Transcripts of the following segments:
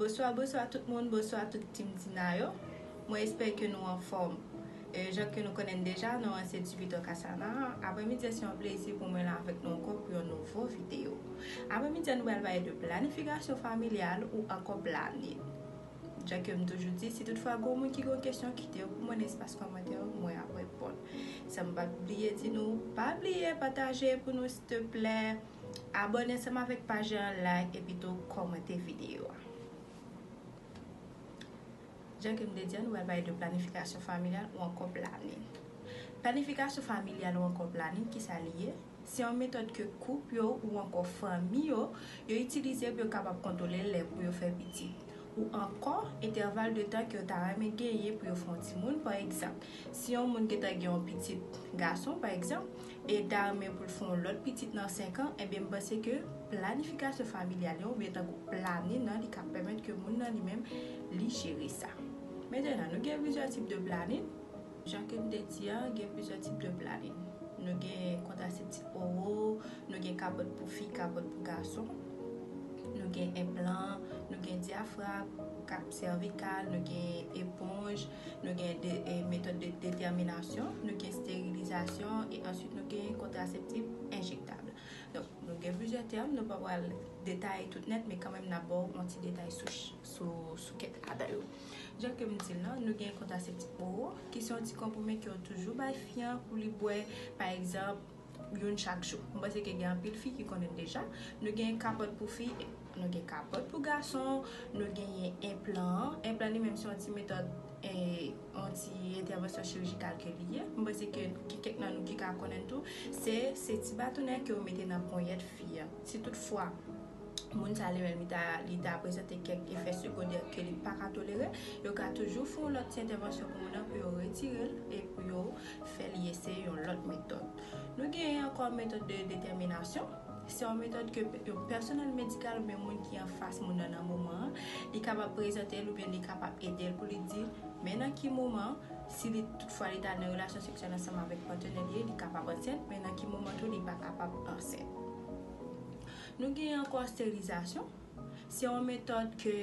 Bonswa bonswa tout moun bonswa tout team Dina yo mwen espè ke nou anfòm jan ke nou konnen n deja non an se Djipito Kasana aprè midi an se yon plezi pou mwen la avèk nou ankò pou yon nouvo video aprè midi an nou pral pale de planifikasyon familyal ou ankò planin. Jan ke m toujou di, si tout fwa gon moun ki gon kesyon kite yo pou mwen nan espas kòmantè yo mwen ap reponn. Sa m pap bliye di nou, pa bliye pataje pou nou stplè, abòne ansanm avèk paj la, like epi tou kòmante videyo a. Jan ke m te di an nou pral pale de planifikasyon familyal ou ankò planin. Planifikasyon familyal ou ankò planin kisa li ye? Se yon metòd ke koup yo ou ankò fanmi yo, yo itilize pou yo kapab kontwole lè pou yo fè pitit. Ou ankò, entèval de tan ke yo ta renmen genyen pou yo fè yon timoun, pa egzanp, si yon moun gentan gen yon pitit gason, pa egzanp, e li ta renmen pou l fè yon lòt pitit nan senkan, enben m panse ke planifikasyon familyal yo, oubyen tankou planin an, li ka pèmèt ke moun nan li menm, li jere sa. Mentenan, nou gen plizyè tip de planin. Jan ke m te di a, gen plizyè tip de planin. Nou gen kontraseptif oro, nou gen kapòt pou fi, kapòt pou gason. Nou gen enplan, nou gen dyafrag, kap sèvikal, nou gen eponj, nou gen metòd de detèminasyon, nou gen sterilizasyon e answit nou gen kontraseptif enjektab. Donk, nou gen plizyè tèm, nou pa pral detaye tout nèt men kanmenm n ap ba w yon ti detay sou kèk ladan yo. Jan ke m di l lan, nou gen kontraseptif oro, ki se yon ti konprime ke yo toujou bay fi an pou li bwè, pa egzanp, youn chak jou. M panse ke gen anpil fi ki konnen l deja. Nou gen kapòt pou fi, nou gen kapòt pou gason, nou genyen enplan an. Enplan an li menm se yon ti metòd, yon ti entèvansyon chirijikal ke li ye. M panse ke gen kèk nan nou ki ka konnen l tou. Se ti batonè ke yo mete nan ponyèt fi an. Si tout fwa. moun sa li menm li ta li ta prezante kèk efè segondè ke li pa ka tolere, yo ka toujou fè yon lòt ti entèvansyon pou moun nan pou yo retire l e pou yo fè li eseye yon lòt metòd. Nou genyen ankò metòd de detèminasyon, se yon metòd ke yon pèsonèl medikal oubyen moun ki anfas moun nan nan moman an, li kapab prezante l oubyen li kapab ede l pou li di men nan ki moman si li tout fwa li ta nan relasyon seksyèl ansanm avèk patenè li, li kapab ansent men nan ki moman tou li pa kapab ansent. Nou gen ankò sterilizasyon, se yon metòd ke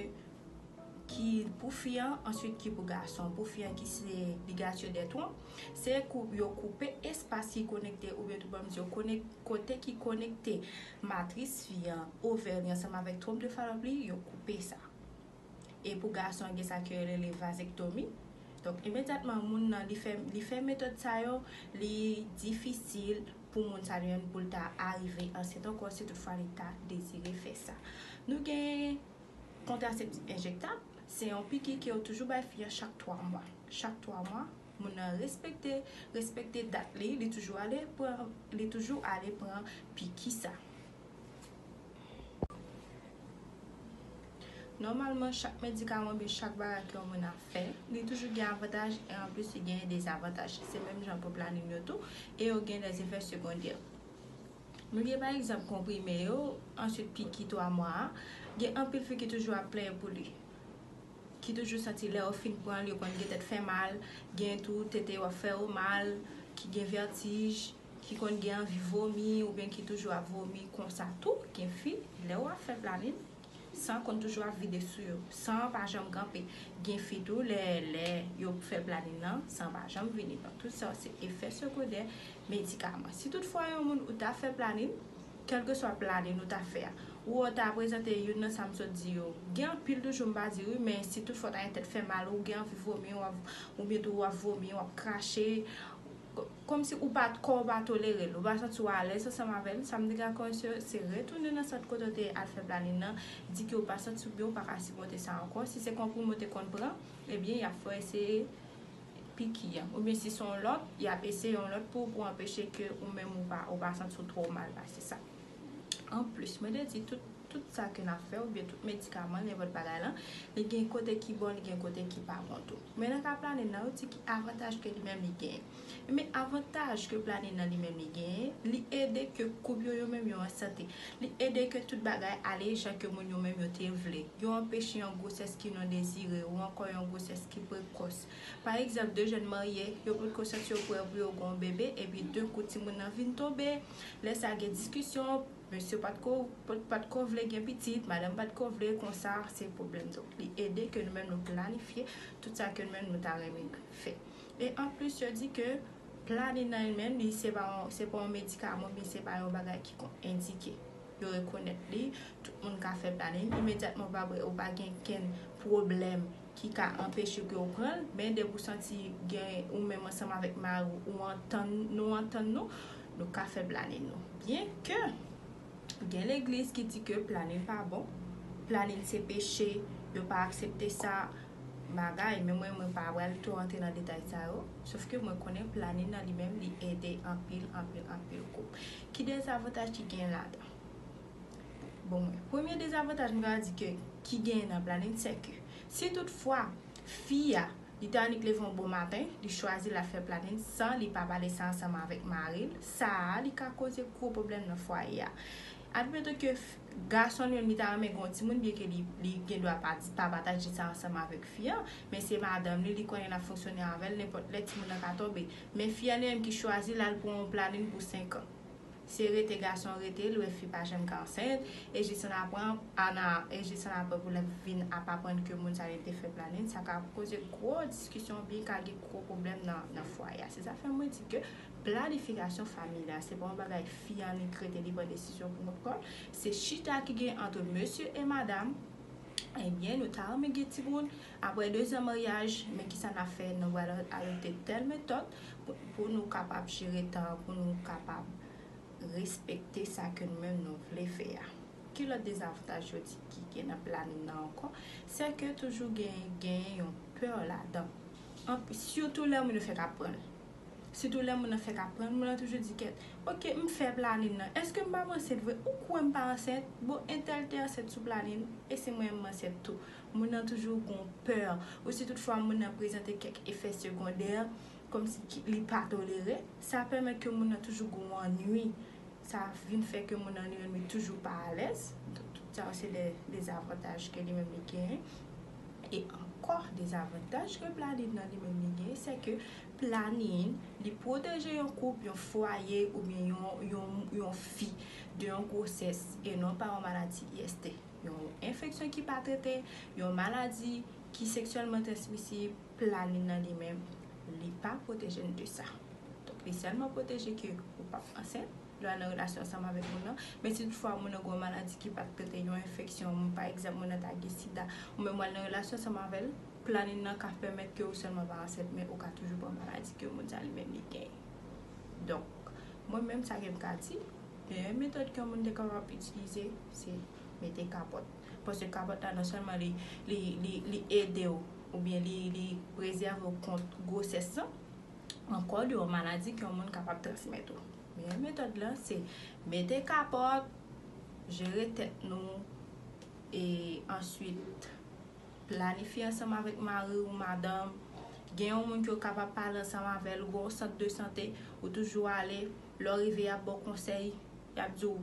ki pou fi an answit ki pou gason. Pou fi an ki se ligature des trompes, se kou yo koupe espas ki konekte oubyen tou banm di yo konek kote ki konekte matris fi an, ovè li ansanm avèk trompe de Fallope li, yo koupe sa. E pou gason gen sa ke yo rele vasectomie, donk imedyatman moun nan li fè li fè metòd sa yo, li difisil pou moun sa jwenn pou l ta arive ansent ankò si tout fwa li ta dezire fè sa. Nou gen kontraseptif enjektab, se yon piki ke yo toujou bay fi an chak 3 mwa. Chak 3 mwa, moun nan respekte respekte dat li, li toujou ale pran li toujou ale pran piki sa. Nòmalman chak medikaman ou byen chak bagay ke yon moun ap fè, li toujou gen avantaj e anplis li genyen dezavantaj. Se menm jan pou planin yo tou e yo gen lè zefè segondè. Nou gen pa egzanp konprime yo, answit piki 3 mwa a, gen anpil fi ki toujou ap plenyen pou li. Ki toujou santi lè yo fin pranl yo konn gen tèt fè mal, gen tou tete yo ap fè yo mal, ki gen vètij. Ki konn gen anvi vomi oubyen ki toujou ap vomi konsa tou gen fi lèw ap fè planin san konn toujou ap vide sou yo san an pa janm kanpe gen fi tou lè lè yo fè planin nan san an pa janm vini donk tout sa yo se efè sekodè medikaman si tout fwa yon moun ou ta fè planin kèlkeswa planin ou ta fè a ou wè ou ta prezante youn nan sa m sot di yo gen anpil toujou m pa di wi men si tout fwa w ta gen tèt fè mal ou gen anvi vomi oubyen tou wap vomi wap krache. Kòmsi ou pa t kò ou pa tolere l, ou pa santi w alèz ansanm avè l, sa m te ka konvense yo se retounen nan sant kote w te al fè planin nan, di ke ou pa santi w byen ou pa ka sipòte sa ankò, si se konprime ou te konn pran, ebyen y ap fè w eseye piki an, oubyen si se yon lòt, y ap eseye yon lòt pou ou pou anpeche ke ou menm ou pa santi w twò mal pase sa. Anplis, mwen te di tout tout sa ke nap fè oubyen tout medikaman, nenpòt bagay lan, li gen kote ki bon, li gen kote ki pa bon tou. Men nan ka planin lan, yo di ki avantaj ke li menm li genyen. Enben, avantaj ke planin lan li menm li genyen, li ede ke koup yo yo menm yo an sante. Li ede ke tout bagay ale jan ke moun yo menm yo te vle. Yo anpeche yon gwosès ki non dezire ou ankò yon gwosès ki prekòs. Pa egzanp, 2 jèn marye, yo potko santi yo prè pou yo gen yon bebe, epi denkou timoun lan vin tonbe. Lè sa gen diskisyon, mesye pat ko pat ko vle gen pitit, madanm pat ko vle, konsa se pwoblèm. Donk li ede ke nou menm nou planifye tout sa ke nou menm nou ta renmen fè. E an plis yo di ke planin nan li menm li se pa yon se pa yon medikaman oubyen se pa yon bagay ki kon endike. Yo rekonèt li, tout moun ka fè planin imedyatman ou pa ou pa gen kenn pwoblèm ki ka anpeche ke w pran l, men depi w santi gen ou menm ansanm avèk mari w ou antann nou antann nou, nou ka fè planin nou. Byen ke gen legliz ki di ke planin pa bon, planin se peche, yo pa aksepte sa, bagay, men mwen mwen pa pral twò antre nan detay sa yo, sof ke mwen konnen planin nan li menm li ede anpil anpil anpil koup. Ki dezavantaj ki gen ladan? Bon mwen, premye dezavantaj m ka di ke ki genyen nan planin sè ke si tout fwa fi a li ta annik leve yon bon maten li chwazi lap fè planin san li pa pale sa ansanm avèk mari l sa a li ka koze gwo pwoblèm nan fwaye a admeton ke gason li menm li ta renmen gen yon timoun byen ke li gen dwa pa pataje sa ansanm avèk fi an men se madanm li li konnen lap fonksyone avèl nenpòt lè timoun nan ka tonbe men fi an li menm ki chwazi lal pran yon planin pou 5 an. Se rete gason rete lwe fi pa janm ka ansent e jis an apran ana e jis an apre pou lap vin ap aprann ke moun sa li te fè planin sa ka koze gwo diskisyon oubyen ka gen gwo pwoblèm nan fwaye a se sa fè mwen di ke planifikasyon famiy la se pa yon bagay fi an li k rete li pran desizyon pou kont kòl se chita ki gen antre mesye e madam ebyen nou ta renmen gen timoun Aprè 2 zan maryaj, men kisa nap fè, nou pral ajoute tèl metòd pou nou kapab jere tan an, pou nou kapab respekte sa ke nou menm nou vle fè a. Ki lòt dezavantaj yo di ki gen nan planin nan ankò, sè ke toujou gen genyen yon pè ladan. Sitou lè moun yo fèk ap pranl. Sitou lè moun nan fèk ap pranl, moun nan toujou di kèt, ok m fè planin nan, èske m pap ansent vre, ou kwè m pa ansent, bon entèl te ansent sou planin, e se mwen menm m ansent tou. Moun nan toujou gon pè ou si tout fwa moun nan prezante kèk efè segondè kòm si ki li pa tolere, sa pèmèt ke moun nan toujou gon annwi, sa vin fè ke moun nan li menm li toujou pa alèz, donk tout sa yo se de dezavantaj ke li menm li genyen. E ankò dezavantaj ke planin nan li menm li genyen se ke planin li pwoteje yon koup, yon fwaye oubyen yon yon fi de yon gwosès e non pa yon maladi IST. Yon enfeksyon ki pa trete, yon maladi ki seksyèlman transmisib, planin nan li menm, li pa pwoteje n de sa. Donk li sèlman pwoteje ke ou p ap ansent lè w al nan relasyon ansanm avèk moun nan, men si toutfwa moun nan gen yon maladi ki pa t trete, yon enfeksyon, pa egzanp moun nan ta gen sida, ou menm w al nan relasyon ansanm avè l, planin nan ka pèmèt ke ou sèlman pa ansent men ou ka toujou pran maladi ke moun sa li menm li genyen. Donk mwen menm sa ke m ka di. Dèyè metòd ke moun te kapab itilize se mete kapòt. Paske kapòt la non sèlman li ede w oubyen li prezève w kont gwosès lan, ankò li yon maladi ke yon moun kapab transmèt ou. Meyè metòd lan se mete kapòt, jere tèt nou e answit planifye ansanm avèk mari ou madanm. Gen yon moun ke w kapab pale ansanm avè l, gen yon sant de sante ou toujou ale. Lè w rive y ap ba w konsèy, y ap di w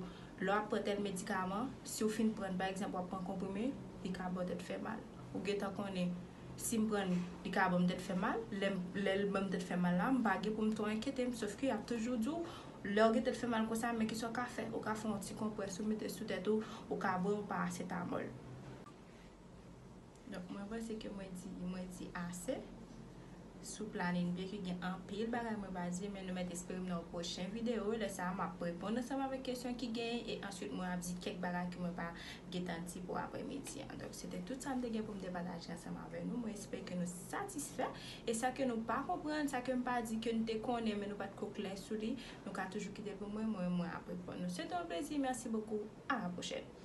lè w ap pran tèl medikaman, si w fin pran n, pa egzanp w ap pran konprime, li ka ba w tèt fè mal. Ou gentan konnen si m pran n, li ka ban m tèt fè mal, lè m, lè l ban m tèt fè mal la, m pa gen pou m twò enkyete m. Sofke y ap toujou di w lè w gen tèt fè mal konsa men kisa w ka fè, ou ka fè yon ti konprès ou mete sou tèt ou, ou ka bwè yon parasetamòl. Donk mwen panse ke mwen di, mwen di ase sou planin byen ke gen anpil bagay mwen pa di men nou mèt espere m nan yon pwochen video lè sa a map reponn ansanm avèk kesyon ki genyen e answit mwen ap di kèk bagay ke mwen pa gentan di pou aprè midi an. Donk se te tout sa m te gen pou m te pataje ansanm avè nou mwen espere ke nou satisfè e sa ke nou pa konprann sa ke m pa di ke nou te konnen men nou pat ko klè sou li nou ka toujou kite pou mwen mwen mwen ap reponn nou. Se te yon plezi merci beaucoup a la pwochèn.